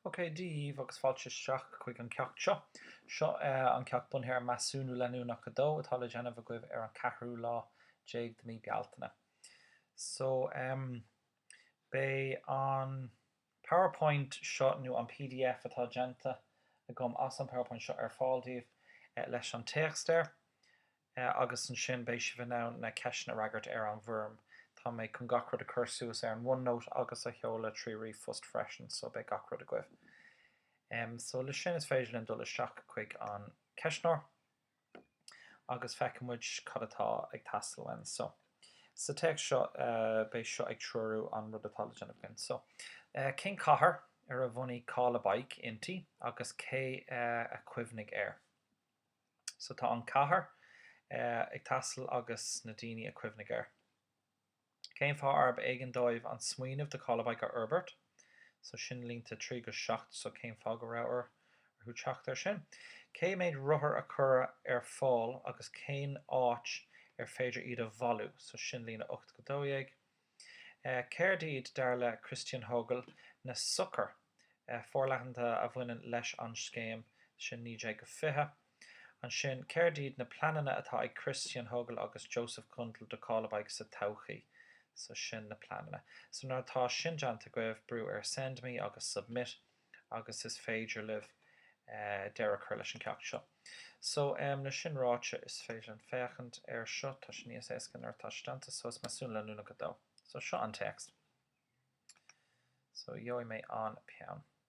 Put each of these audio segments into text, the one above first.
OK, Dia daoibh agus fáilte isteach chuig an ceacht seo. Seo an ceacht bunaithe ar Measúnú Leanúnach 2 atá le déanamh agaibh ar an 4ú lá déag de mí Bealtaine. So, beidh an. Powerpoint seo nó an pdf atá déanta agam as an Powerpoint seo ar fáil daoibh leis an téacs air agus ansin beidh sibh in ann na ceisteanna a fhreagairt ar an bhfoirm. Tá mé chun gach rud a chur suas ar an OneNote agus a sheoladh trí ríomhphost freisin so beidh gach rud agaibh. So le sin is féidir linn dul isteach chuig an ceistneoir. agus feicfidh muid cad atá ag teastáil linn so. Sa téacs seo beidh seo ag treorú an rud atá le déanamh againn. So, cén cathair ar a bhunaigh Call a Bike inti agus cé a chuimhnigh air? So tá an cathair ag teastáil agus na daoine a chuimhnigh air. Cén fáth arb éigean dóibh an smaoineamh de Call a Bike a fhorbairt? So sin línte 3 go 7 so cén fáth go raibh orthu teacht air sin? Cé mhéad rothar a cuireadh ar fáil agus cén áit ar féidir iad a bhailiú? So sin líne 8 go 12. Céard iad, dar le Christian Hogl, na sochair forleathanta a bhaineann leis an scéim? Sin 19 go 20. Ansin, céard iad na pleananna atá ag Christian Hogl agus Josef Gundel do Call a Bike sa todhchaí? So, sin na pleananna. So, nuair atá sin déanta agaibh, brúigh ar Send Me agus Submit agus is féidir libh deireadh a chur leis an ceacht seo. So, le sin ráite, is féidir linn féachaint air seo. Tá sé níos éasca nuair atá sé déanta. So, is measúnú leanúnach 2. So, seo an téacs. So, gheobhaidh mé an peann.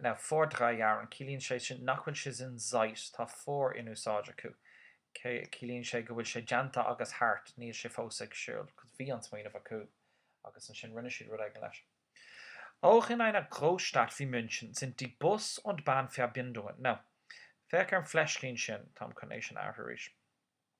Now, vor drei Jahren, ciallaíonn sé sin nach bhfuil sé sin seit, tá vor in úsáid acu. Ciallaíonn sé go bhfuil sé déanta agus thart, níl sé fós ag siúl, because bhí an smaoineamh acu agus ansin rinne siad rud éigin leis. Auch in einer Großstadt wie München sind die Bus und Bahnverbindungen. Now, féach ar an fleiscín sin, táim chun é sin a athrú arís.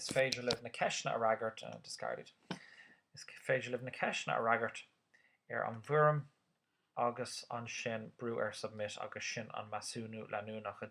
Is féidir libh na ceisteanna a fhreagairt, discarded, Is féidir libh na ceisteanna a fhreagairt ar an bhfoirm agus ansin brúigh ar submit agus sin an measúnú leanúnach 2.